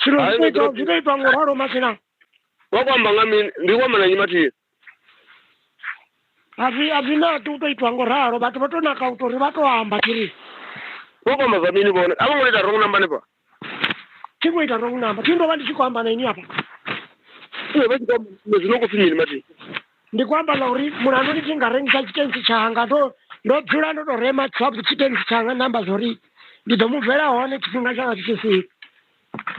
Zwino zwi tou itwa ngo ralo masina. Wa kwa amba nga mini? Ndi kwa mana nyi mathihi. A zwi a zwi naki u tou itwa ngo ralo vhathu vha tou naka u tou ri vha tou amba tshiri. Wa kwa amba zwa mini vhone? A vho ngo ita wrong number ni pa. Thi ngo ita wrong number. Thi ndo vha ndi tshi khou amba na ini hafha. Ee vha tshi khou amba zwino khou pfi mini mathihi. ndi khou amba nga uri mulandu ndi tshi nga rengisa tshitensi tshanga ndo ndo dzula ndo to rema tswapo tshitensi tshanga namba zwa uri ndi ḓo mu bvela hone tshifhinga tshanga tshi tshi swika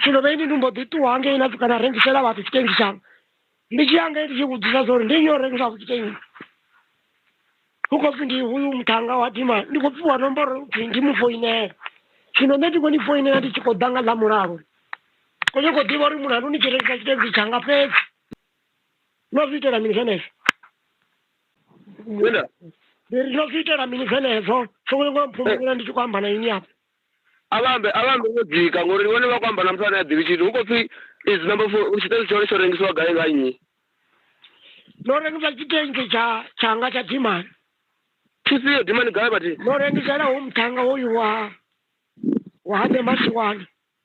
zwino vhe ndi ndi mbo ḓi ṱuwa ngei na kana rengisela vhathu tshitensi tshanga ndi tshi ya ngei ndi tshi vhudzisa zwa uri ndi nyo rengisa ku tshitensi hu khou pfhi ndi uyu muthanga wa dima ndi khou pfiwa nomboro pfhi ndi mu foinela zwino nṋe ndi khou ni foinela ndi tshi khou ḓa nga ḽa mulalo ko ni khou ḓivha uri mulandu ni tshi rengisa tshitensi tshanga fhedzi no zwi itela mini zwenezwo Wena, Ndi ri no zwi itela mini zwenezwo sokuti ngo mphumbula ndi tshi khou amba na ini apa avhambe avhambe wo dzika ngori ndi vhone vha khou amba na muthu ane a ḓivhi tshithu hu khou pfhi is number four tshiṱori tshone tsho rengisiwa gai nga nnyi no rengisa tshitenzi tsha tshanga tsha dimani tshifhio dimani gai vhathi no rengisela ho muthannga hoyu wa wa hande masiwana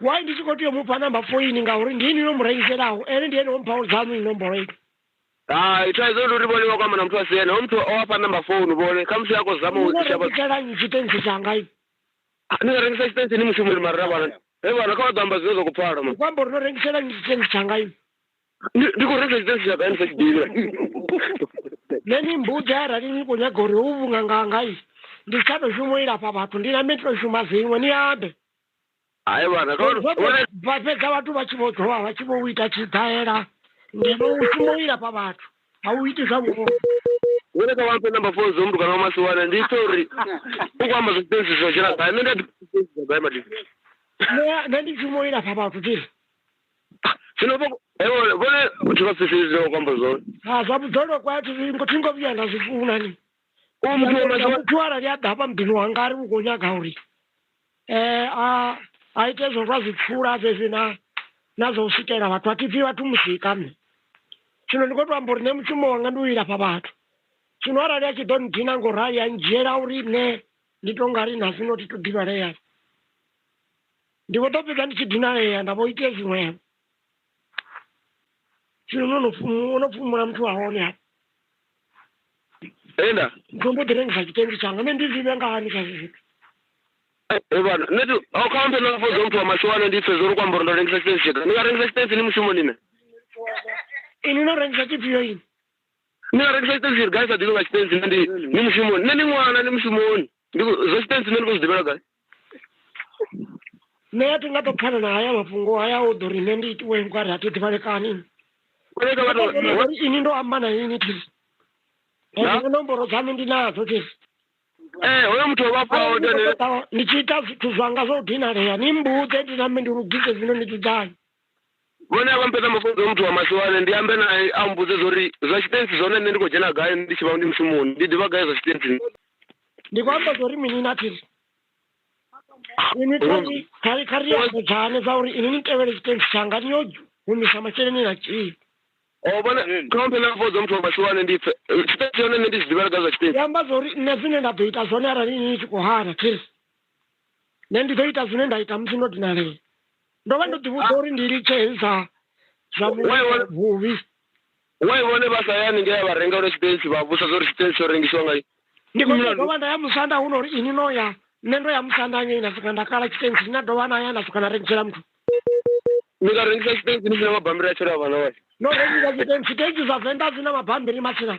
why ndi tshi khou tea u mupha namba foini ngauri ndi ini no mu rengiselaho ene ndi ene wo mphaho dzanu inomboro ini hai thaidzo ndi uri vhone vha kwama na muthu a si ene ho muthu o afha namba founu vhone kha musi a khou zama u no shavha rengisela nnyi tshitensi tshanga ini ni nga rengisa tshitensi ni mushumoni mara ra vhana he vhana kha vha ḓo amba zwine zwa khou pfala ma kwamba uri no rengisela nnyi tshitensi tshanga ini ndi ndi khou rengisa tshitensi tsha kaini sa tshidivha nṋe ni mbudza arali ni khou nyaga uri hu vhunganganga ini ndi tsha to shuma u ilafha vhathu ndi nambe ndi to shuma zwiṅwe ni ambe hai vhana vha fhedza vhathu vha tshi vho dovha vha tshi vho u ita tshidaela ngeno u shuma u ilafha vhathu a u iti zwa vhuholo wone ka wampe number four dzo mutukana wa masiwana ndi ita uri u khou amba zwisitensi zwo dzhena gai nṋe ndi a gai madi nṋe ndi shuma u ilafha vhathu tiri zwino vhone vhathu vha sifhiri zwine wa khou amba zwone ha zwa vhudzolo kwa thi ngo vhuya nda zwi funa ni u muthu wa maḓuvha muthu arali a ḓa hafha muḓini wanga a ri vhu khou nyaga uri um a a ite zwo zwa zwipfula zwezwi na na zwa u swikela vhathu a thi pfhi vhathu musika nṋe zwino ndi khou to amba uri nṋe mushumo wanga ndi u ilafha vhathu zwino arali a tshi ḓo ndina ngo rali a ndzhiela uri nṋe ndi to nga ri na zwino thi to ḓivhaleya ndi vho ḓo fhedza ndi tshi dinalea nda vho itea zwiṅwevho zwino no pfumula no pfumula muthu wa hone ha enda muthu mbo ḓi rengisa tshitendi tshanga nṋe ndi zwi vhenga hani kha zwi zwithu evana eh, nṋe a kha mphe na fodza muthu wa mashowana ndi pfhe zwo ri ku amba uri ndo rengisa tshitendi tshega ni nga rengisa tshitendi ni mushumo nine ini no rengisa tshifhio ini ni nga rengisa tshitendi tshiri gai sa ḓivhi nga tshitendi nṋe ndi ni mushumoni nṋe ni ṅwana ni mushumoni ndi zwa tshitendi nṋe ndi khou zwi ḓivhela gai nṋe a thi nga to pfana na haya mafhungo haya u ḓo ri nṋe ndi itiwe nga ri a thi ḓivhalekani uri ini ndo amba na ini thi ende nomboro dzanu ndi nadzo thi ee hoyo muthu o vhafha ndi tshi ita zwithu zwanga zwo dinalea ni mbudze ndi nambe ndi lugise zwino ni dzudzanye vhone a vha mpedza mafunzo muthu wa masiwane ndi ambe nae a mbudze zwa uri zwa tshitensi zwone nṋe ndi khou dzhena gai ndi tshi vha ndi mushumoni ndi ḓivha gai zwa tshitensi ndi khou amba zwa uri mini na phiri ini thori khari khari ya dzane dza uri ini ni tevhele tshitensi tshanga ni yo humisa masheleni na tshii o vhona ṱhomphe na mfodzo muthu wa masiwane ndi pfe tshitensi yone nṋe ndi zwi ḓivhela gai zwa tshitensi ndi amba zwa uri nṋe zwine nda ḓo ita zwone arali ini ni tshi khou hana phiri nṋe ndi ḓo ita zwine nda ita musi ndo dinalea ndo vha ndo ḓivhudza uri ndi litshe hezwi zwa zwa vhu- vhuvhi wai vhone vha sa ya haningei a vha renga lwa tshipensi vha vhusa zwa uri tshipensi tsho rengisiwa ngai ndi khou tea u dovha nda ya musanda hu no uri ini no ya nṋe ndo ya musanda ngei nda swika nda kala tshitensi ndi na dovha na ya nda swika na rengisela muthu ni nga rengisa tshipensi ni sina mabambiri a tshela vhana wai no rengisa tshitensi thensi zwa venḓa dzi na mabambiri matsina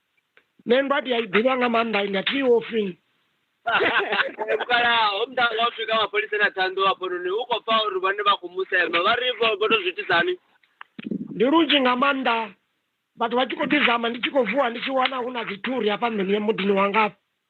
nṋe ndo ati a i ḓivha nga maanḓa ndi ati wo fini vhukala ho muda nga u swika mapholisa na thando hafhanoni u khou pfa uri vhone vha khou musema vha ri vho vho to zwi itisani ndi lunzhi nga maanḓa vhathu vha tshi khou ḓizama ndi tshi khou vuwa ndi tshi wana hu na dzithuri hafha nḓuni ya muḓini wangafha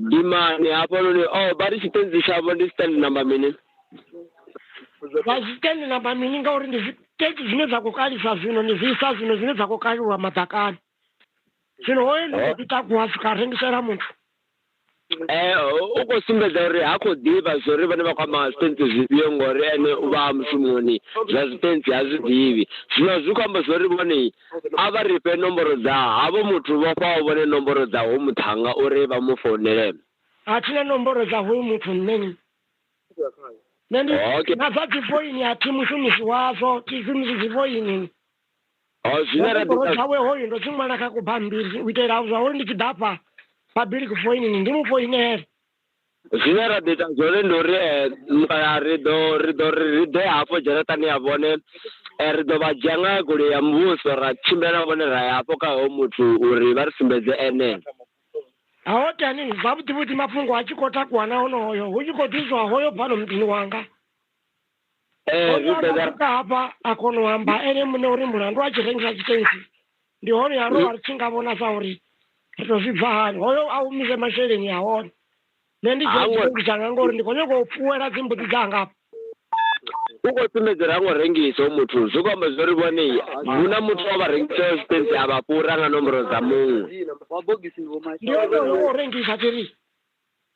Ndi mani hafhanoni? Oh, vha ri tshitenzi tshavho ndi stand number mini? Vha zwi stand number mini ngauri ndi zwiteki zwine zwa khou kalisa zwino, ndi zwi isa zwino zwine zwa khou kaliwa maḓakani. Zwino hoyo ndi khou ḓi takuwa a swika a rengisela muthu. Eh, u khou sumbedza uri ha khou ḓivha zwo ri vhane vha khou amba zwitenzi zwifhio ngori ene u vha a mushumoni zwa zwitenzi ha zwi ḓivhi. Zwino zwi khou amba zwo ri vhone A vha ri fhe nomboro dza havho muthu vho fhaho vhone nomboro dza hoyu muṱhannga uri vha mu founele. A thi na nomboro dza hoyu muthu nṋe. Nṋe ndi Okay. na dza dzi foini a thi mushumisi wadzo, thi shumisi dzi foini. O Na zwine ra ḓi nomboro nga dzawe hoyu ndo dzi ṅwala kha kubammbiri u itela zwa uri ndi tshi ḓa afha Babili kufoinini ndi mu foinele. Zwine ra ḓo ita zwone ndi uri ri ḓo ri ḓo ri ri ḓe hafho dzharaṱani ya vhone ri ḓo vha dzhia nga goloi ya muvhuso ra tshimbila na vhone ra ya hafho kha hoyo muthu uri vha ri sumbedze ene Hawotani zwavhuḓi vhuḓi mafhungo a tshi khou takuwa na honoyo hu tshi khou ḓiswa hoyo bvano muḓini wanga. Eh, zwi Oda bvela asuka hafha a kona u amba ene muṋe uri mulandu a tshi rengisa tshitentsi ndi hone ya ro ri tshi nga vhona sa uri ri to zwi bva hani hoyo a humise masheleni a hone nṋe ndi dzhia Hango- tshitentsi tshanga ngori ndi khou nyanga u fuwela dzimbudzi dzanga hafha u khou sumbedza uri ha ngo rengisa u muthu zwi khou amba zwori vhone hu na muthu wa vha rengisaho tshitentsi a vha fhura nga nomboro dza muṅwe ndi onoyo o rengisa tiri